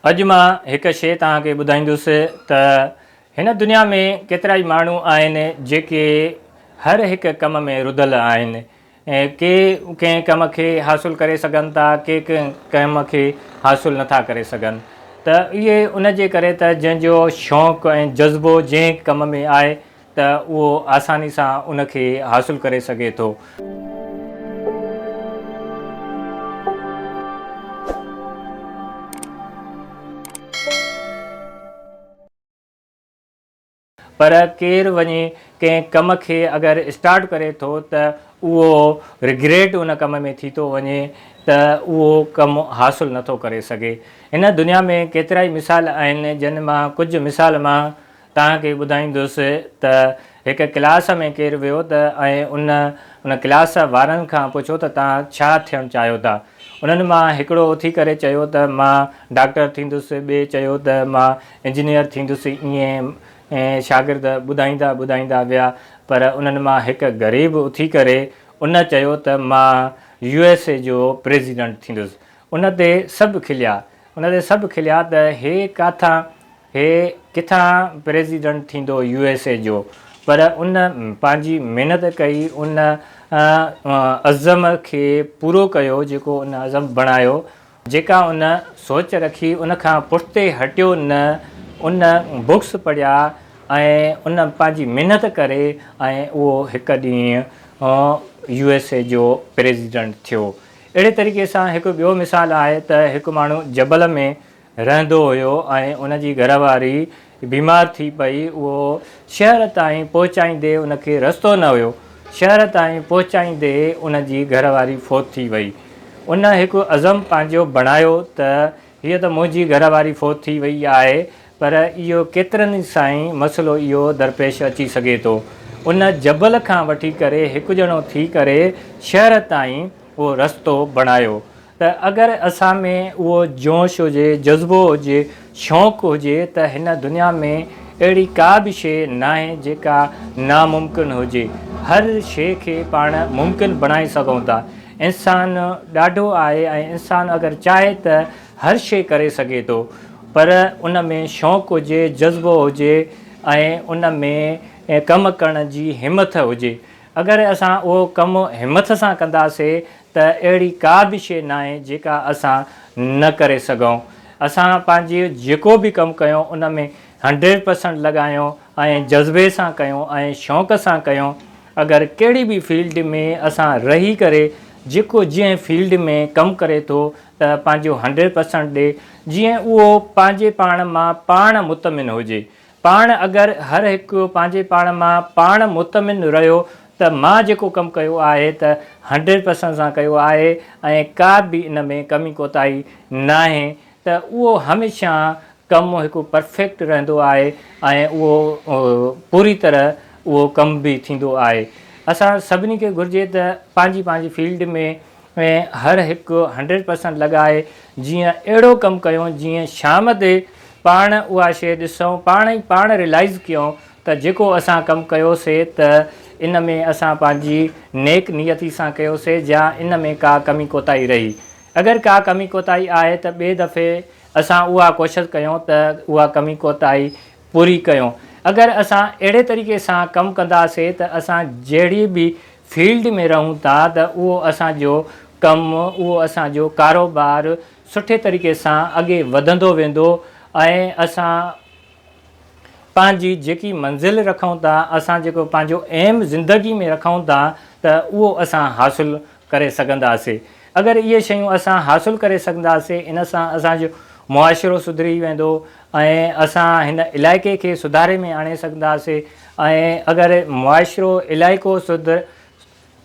اڄ مان هڪ شيء توهان کي ٻڌائيندس ته هن دنيا ۾ ڪيترائي ماڻهو آهن جيڪي هر هڪ ڪم ۾ رڌل آهن. ڪي ڪنهن ڪم کي حاصل ڪري سگهن ٿا ڪي ڪنهن ڪم کي حاصل نه ٿا ڪري سگهن ته اهي ان جي ڪري ته جنهن جو شوق ۽ جذبو جنهن ڪم ۾ آهي ته اهو آساني سان ان کي حاصل ڪري سگهي ٿو. پر ڪير وڃي ڪنهن ڪم کي اگر اسٽارٽ ڪري ٿو ته اهو رگريٽ ان ڪم ۾ ٿي ٿو وڃي ته اهو ڪم حاصل نٿو ڪري سگهي. هن دنيا ۾ ڪيترائي مثال آهن جن مان ڪجهه مثال مان توهان کي ٻڌائيندس ته هڪ ڪلاس ۾ ڪير ويو ته ۽ ان ان ڪلاس وارن کان پڇو ته توهان ڇا ٿيڻ چاهيو ٿا؟ انهن مان هڪڙو اٿي ڪري چيو ته مان ڊاڪٽر ٿيندس، ٻئي چيو ته مان انجنيئر ٿيندس ائين شاگرد ٻڌائيندا ٻڌائيندا ويا پر انهن مان هڪ غريب اٿي ڪري ان چيو ته مان يو ايس اي جو پريزيڊنٽ ٿيندس. ان تي سڀ کليا ان تي سڀ کليا ته هي ڪاٿان هي ڪٿان پريزيڊنٽ ٿيندو يو ايس اي جو پر ان پنهنجي محنت ڪئي ان عزم کي پورو ڪيو جيڪو ان عزم بڻايو جيڪا ان سوچ رکي ان کان پٺتي هٽيو نه ان بوڪس پڙهيا ۽ ان پنهنجي محنت ڪري ۽ اهو هڪ ڏينهن يو ايس اي جو پريزيڊنٽ ٿيو اهڙي طريقي سان هڪ ٻيو مثال آهي ته هڪ ماڻهو جبل ۾ رهندو هيو ۽ ان جي گهر واري بيمار ٿي پئي اهو شهر تائين پهچائيندي ان کي رستو نه هيو شهر تائين پهچائيندي ان جي گهر واري فوت ٿي وئي ان هڪ عزم پنهنجو بڻايو ته هيء ته منهنجي گهر واري فوت ٿي وئي آهي پر اهو ڪيترن ئي سائين مسئلو اهو درپيش اچي سگهي ٿو ان جبل کان وٺي ڪري هڪ ڄڻو ٿي ڪري شهر تائين اهو رستو بڻايو ته اگر اسان ۾ اهو جوش هجي، جذبو هجي، شوق هجي ته هن دنيا ۾ اهڙي ڪا به شيء ناهي جيڪا ناممڪن هجي. هر شيء کي پاڻ ممڪن بڻائي سگهون ٿا. انسان ڏاڍو آهي ۽ انسان اگر چاهي ته هر شيء ڪري سگهي ٿو. پر ان ۾ شوق هجي، جذبو هجي ۽ ان ۾ ڪم ڪرڻ جي همٿ هجي. اگر اسان اهو ڪم همٿ سان ڪنداسين ته اهڙي ڪا به شيء ناهي جيڪا اسان نه ڪري سگهون. اسان پنهنجي جيڪو به ڪم ڪيون ان ۾ هنڊريڊ پرسنٽ لڳايون ۽ جذبي سان ڪيون ۽ شوق سان ڪيون. اگر ڪهڙي به فيلڊ ۾ اسان رهي ڪري جيڪو جنهن فيلڊ ۾ ڪم ڪري ٿو ته پنهنجو هنڊريڊ پرسنٽ ڏي جيئن اهو پنهنجي پاڻ مان پاڻ مطمئن هجي پاڻ اگر هر هڪ پنهنجي پاڻ مان پاڻ مطمئن رهيو ته مان جيڪو ڪم ڪيو آهي ته هنڊريڊ پرسنٽ سان ڪيو آهي ۽ ڪا به ان ۾ ڪمي ڪوتاهي ناهي ته اهو هميشه ڪم هڪ پرفيڪٽ رهندو آهي ۽ اهو پوري طرح اهو ڪم به ٿيندو آهي. اسان سڀني کي گهرجي ته پنهنجي پنهنجي فيلڊ ۾ ۽ هر هڪ هنڊريڊ پرسنٽ لڳائي جيئن اهڙو ڪم ڪيون جيئن شام تي پاڻ اها شيء ڏسون پاڻ ئي پاڻ ريلائيز ڪيون ته جيڪو اسان ڪم ڪيو سي ته ان ۾ اسان پنهنجي نيڪ نيتي سان ڪيو سي جا ان ۾ ڪا ڪمي ڪوتاهي رهي اگر ڪا ڪمي ڪوتاهي آهي ته ٻي دفعي اسان اها ڪوشش ڪيون ته اها ڪمي ڪوتاهي پوري ڪيون اگر اسان اهڙي طريقي سان ڪم ڪنداسي ته اسان جهڙي به فيلڊ ۾ رهون ٿا ته اهو اسان جو ڪم، اهو اسان جو ڪاروبار سٺي طريقي سان اڳي وڌندو ويندو ۽ اسان پنهنجي جيڪي منزل رکون ٿا، اسان جيڪو پنهنجو ايم زندگي ۾ رکون ٿا ته اهو اسان حاصل ڪري سگهنداسي. اگر اهي شيون اسان حاصل ڪري سگهنداسي ان سان اسان جو معاشرو سڌري ويندو ۽ اسان هن علائقي کي سڌاري ۾ آڻي سگهنداسي. ۽ اگر معاشرو علائقو سڌ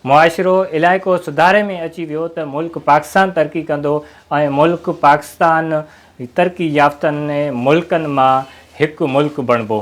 معاشرو علائقو سڌاري ۾ اچي ويو ته ملڪ پاڪستان ترقي ڪندو ۽ ملڪ پاڪستان ترقي يافتن ملڪن مان هڪ ملڪ بڻبو.